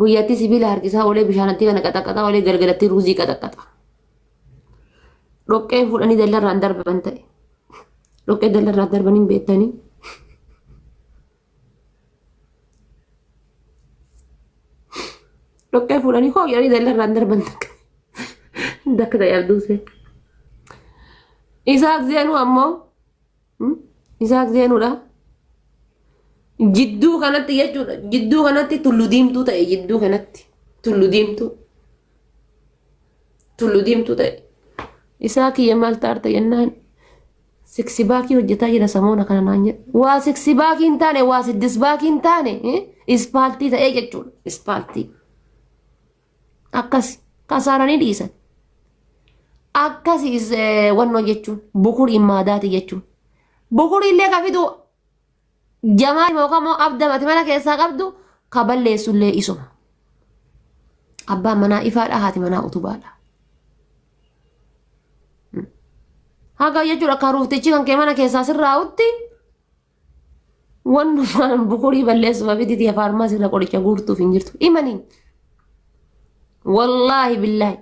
Guyyatti sibiila harkisaa oolee bishaanatti kana qaxaqaxaa oolee galgalatti ruuzii qaxaqaxa. Dhoqqee fuudhanii dallarraan darban ta'e. Dhoqqee dallarraan darban hin beektanii. Dhoqqee fuudhanii hoo jedhanii dallarraan darban takka. Dakka ta'e abduusee. Isaaq zeenuu ammoo Isaaq Zeenuudha. Jidduu kanatti jechuudha. Jidduu kanatti tullu diimtuu ta'e jidduu kanatti. Tullu diimtuu. Tullu diimtuu ta'e. Isaa kiyya maal taarta jennaan siksi baakii hojjetaa jira samoona kana naan jedhe. Waa siksi baakii hin taane waa siddis baakii hin taane ispaaltii ta'ee jechuudha. Ispaaltii. akkasi kasaaranii dhiisan akkasi is- eh, wannoo jechuun bukurii maadaati jechuun bukurii illee ka fidu jamaa yookaan immoo abda mati mana keessaa qabdu ka balleessu illee isuma abbaan manaa ifaadha haati manaa utubaadha haga jechuudha karuuftichi kan kee mana keessaa sirraa'utti Wannumaan bukurii balleessuuf abiditi ya faarmaasii irra qoricha guurtuuf hin jirtu. Imaniin. Wallaahi billaahi.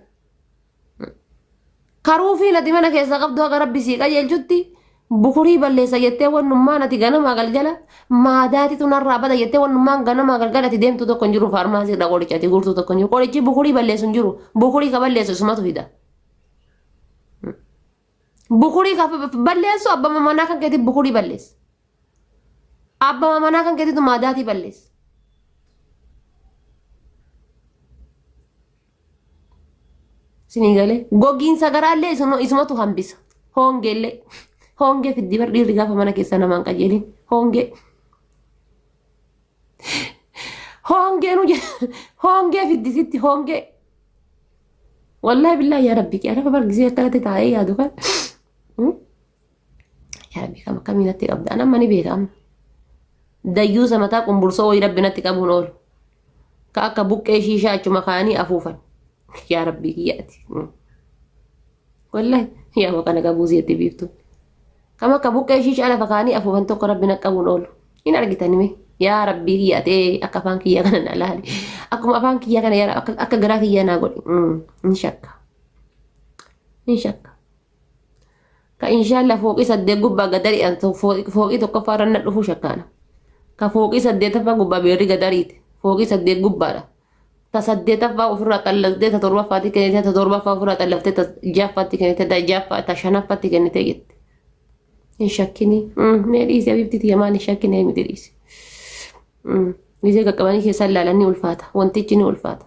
Karuufiin ati mana keessaa qabdu akka rabbi sii qajeelchutti bukurii balleessa jettee wannummaan ati ganamaa galgala maadaatitu narraa bada jettee wannummaan ganamaa galgala ati deemtu tokko hin jiru faarmaasii irra qoricha ati guurtu tokko hin jiru qorichi bukurii balleessu hin jiru bukurii ka balleessu isumatu fida. Bukurii ka balleessu abbama manaa kan keetii bukurii balleessa. Abbama manaa kan keetiitu maadaatii balleessa. Isinii galee gogiinsa garaallee isuma- isumatu hambisa. Hoongeellee hoongee fiddi bar dhiirri gaafa mana keessa namaan qajeelin hoongee. Hoongee nu hoongee fiddisitti hoongee. Wallahi billahi yaa rabbi yaa rabbi bargisee akkanatti taa'ee yaadu kan. Yaa rabbi kam akkamii natti qabda an amma ni beeka amma. Dayyuu samataa qumbursoo wayii rabbi natti qabuun oolu. Ka akka buqqee shiishaa achuma kaanii afuufan. Yaa rabbi kiyyaati. Wallahi yaa maqa na qabuu zeetti biiftu. Kama akka buqqee ishii shaala fakaanii afuufan tokko rabbi na qabuun oolu. Hin argitan mee yaa rabbii kiyya atee akka afaan kiyyaa kana na laali. Akkuma afaan kiyyaa kana yaa akka akka garaa kiyyaa naa godhi. Mm, Hin shakka. Hin shakka. Ka inshaallah fooqii saddeet gubbaa gadarii an to- foo- fooqii tokkoffaa irra na dhufuu shakkaana. Ka fooqii saddeetaffaa gubbaa beerri gadariiti. Fooqii saddeet gubbaadha. ta saddeetaffaa ofirraa xallaftee ta torbaffaatti kennitee ta torbaffaa ofirraa xallaftee ta ja'affaatti kennitee ta ja'affaa ta shanaffaatti kennitee jette. Hin shakkinii. Mee dhiisi abiibti tiyya maal hin shakkinee miti dhiisi. Gisee qaqqabanii keessaa ilaalan ni ulfaata. Wantichi ni ulfaata.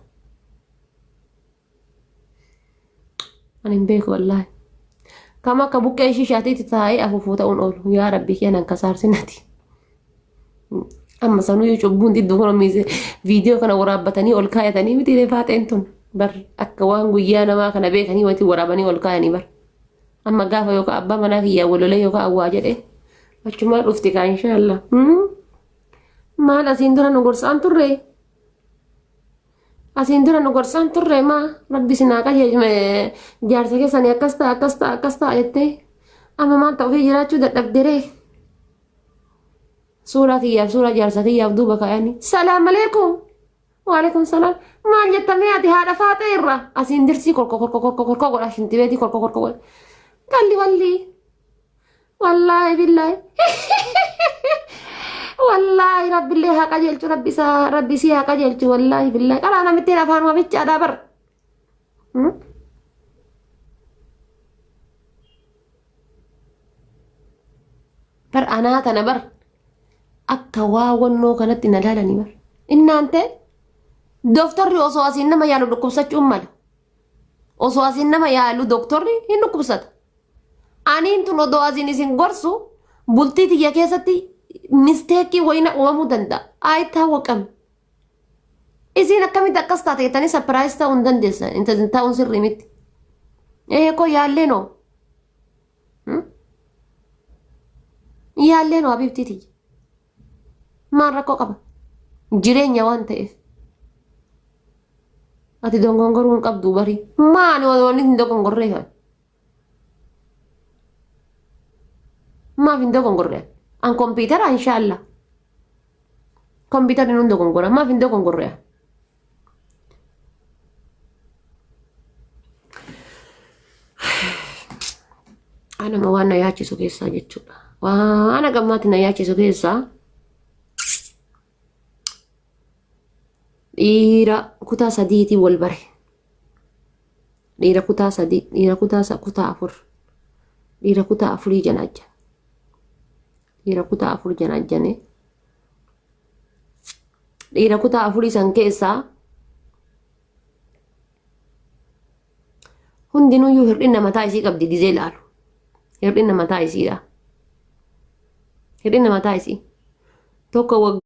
Ani hin beeku wallaahi. Kam akka buqqee shishaatiitti taa'ee afuufuu ta'uun oolu. Yaa rabbi kee nan kasaarsinati. Amma sanuyyuu cubbuun xiddoo kana miise viidiyoo kana waraabbatanii ol kaayatanii miti illee faaxeen tun. Bar akka waan guyyaa namaa kana beekanii wanti waraabanii ol kaayanii bar. Amma gaafa yookaan abbaa manaa kiyyaa walolee yookaan awwaa jedhee achumaa dhufti kaa inshaallah. Maal asiin dura nu gorsaan turree? Asiin dura nu gorsaan turre maa rabbi isin haa qajeelchu jaarsa keessanii akkas ta'a akkas ta'a akkas ta'a jettee amma maal ta'u ofii jiraachuu dadhabderee suuraa kiyyaaf suuraa jaarsa kiyyaaf duuba kaayanii salaam aleekum waaleekum salaam maal jettamee ati haadha faaxee irraa asiin dirsii korko korko korko korko godha shintibeetii korko korko godha qalli wallii wallaahi billaahi wallaahi rabbillee haa qajeelchu rabbi isaa rabbi isii haa qajeelchu wallaahi billaahi qalaa namittiin afaan wamichaadhaa bar Hmm? bar anaa tana bar akka waa wannoo kanatti na laalanii bar innaante dooftarri osoo asiin nama yaalu dhukkubsachuun mala Osoo asiin nama yaalu doktorri hin dhukkubsata. Aniin tun odoo asiin isin gorsu bultii tiyya keessatti misteekii wayina uumamuu danda'a. Ayi taawwaqam. Isiin akkamitti akkas taate jettanii sapiraayis ta'uu hin dandeessan. Intalli taa'uun sirrii miti. Ee koo yaallee noo. Yaallee noo abibtii tiyya. Maal rakkoo qaba? Jireenya waan ta'eef. Ati dogongoruu hin qabdu barii. Maali wanni hin dogongorree kan? Maaf hin dogongorree? An kompiitara inshaallah. Kompiitarri nun dogongora. Maaf hin dogongorree? Anuma waan na yaachisu keessaa jechuudha. Waan agammaatti na yaachisu keessaa dhiira kutaa sadiitiin wal bare. Dhiira kutaa sadii, dhiira kutaa sa- kutaa afur, dhiira kutaa afurii janaacha. Dhiira kutaa afur janaajjane. Dhiira kutaa afurii san keessaa hundinuyyuu hir'ina mataa isii qabdi gizee laalu. Hir'ina mataa isiidha. Hir'ina mataa isii. Tokko waggaa